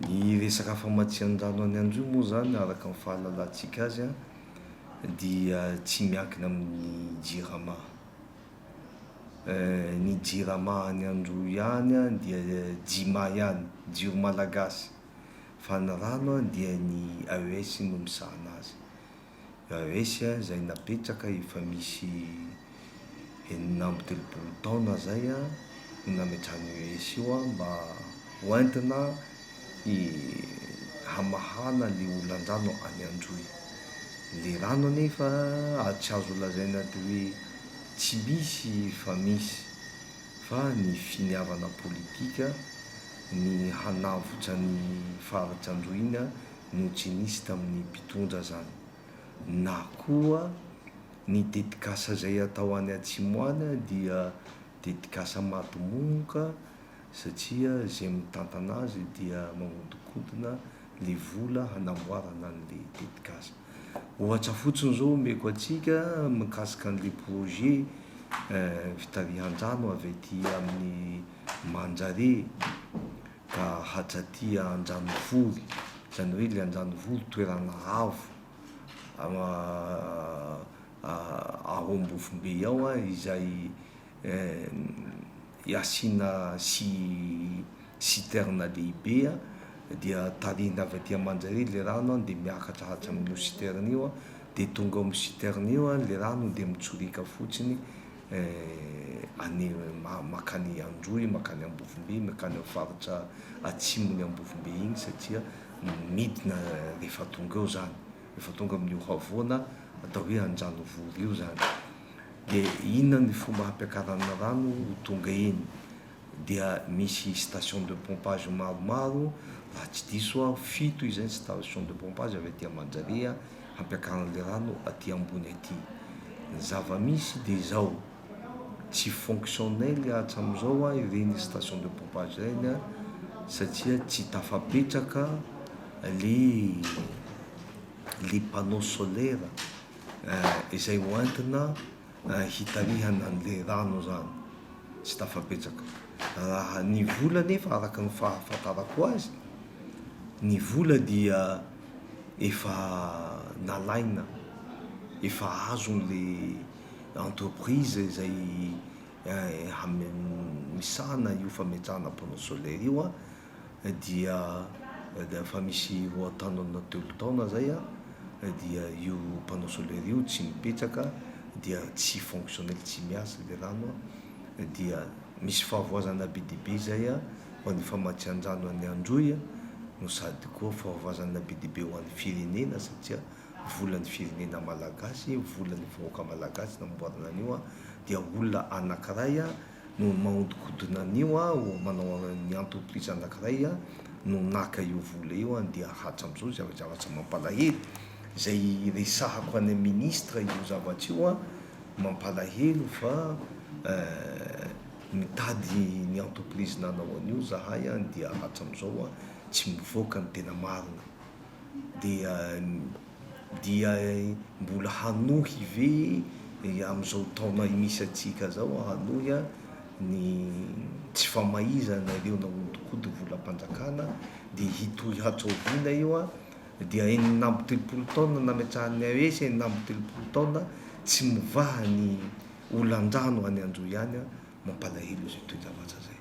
Ny resaka famatsian-drano any Androy moa izany araka ny fahalalantsika azy dia tsy miankina amin'ny Jirama. Ny Jirama any Androy ihany dia Jima ihany, jiro malagasy, fa ny rano dia ny AES no misahana azy. Raharesy an izay napetraka efa misy enina amby telopolo taona izay no nametrahan'io Heisy io mba ho entina hamahana ilay olandrano any Androy. Ilay rano anefa tsy azo lazaina atao hoe tsy misy fa misy fa ny finiavana politika ny hanavotra ny faritra Androy iny no tsy nisy tamin'ny mpitondra zany na koa ny tetikasa zay atao any atsimo any dia tetikasa madimonoka satria zay mitantana azy dia mahodinkodina le vola hanamboarana anle tetikasa ohatra fotsiny zao omeko atsika mikasika anle projet fitarihandrano avy aty amin'ny manjare ka hatraty Andranovory, izany hoe ilay Andranovory toerana avo ao Ambovombe ao a, izay asiana si citerne lehibe a, dia tarihina avy aty aman-draharaha ilay rano a, dia miakatra hatramin'io citerne io a, dia tonga ao amin'ny citerne io a, ilay rano dia mitsorika fotsiny. eh, any makany Androy, makany Ambovombe, makany amin'ny faritra atsimon'i Ambovombe iny satria midina rehefa tonga eo zany, rehefa tonga amin'io havoana atao hoe Andranovory io zany. Dia inona ny fomba hampiakarana rano ho tonga eny? dia misy station de pompage maromaro, raha tsy diso aho fito izy zay station de pompage avy aty Manjariha hampiakaran'ilay rano aty ambony aty. Ny zava-misy dia izao, tsy fonctionnel hatramin'izao ireny station de pompage ireny satria tsy tafapetraka ilay ilay panneau solaire izay hoentina hitarihana ny lerano izany tsy tafabetsaka. Raha ny vola anefa araka ny fahafantarako azy, ny vola dia efa nalaina, efa azon'ilay entreprise izay misahana io fametrahana panneau solaire io. dia efa misy roantaona telo taona zay dia io panneau solaire io tsy mipetraka dia tsy fonctionnel tsy miasa le rano dia misy fahavoazana be dia be zay ho an'ny famatsian-drano an'i Androy no sady koa fahavoazana be dia be ho an'ny firenena satria volan'ny firenena malagasy, volan'ny vahoaka malagasy namboarina an'io dia olona anakiray no mahodinkodina an'io aho manao ny entreprise anakiray aho no naka io vola io aho dia hatram'izao izay zavatra mampalahelo izay resahako any amin'ny ministre io zavatra io aho mampalahelo fa mitady ny entreprise nanao an'io zahay aho dia hatram'izao aho tsy mivoaka ny tena marina dia dia mbola hanohy ve amin'izao taona misy antsika izao hanohy ny tsy famaizana ireo nahodinkodin'ny volam-panjakana dia hitohy hatraoviana io dia enina amby telopolo taona nametrahan'ny AES enina amby telopolo taona tsy mivaha ny olan-drano any Anjo ihany mampalahelo izay toe-javatra izay.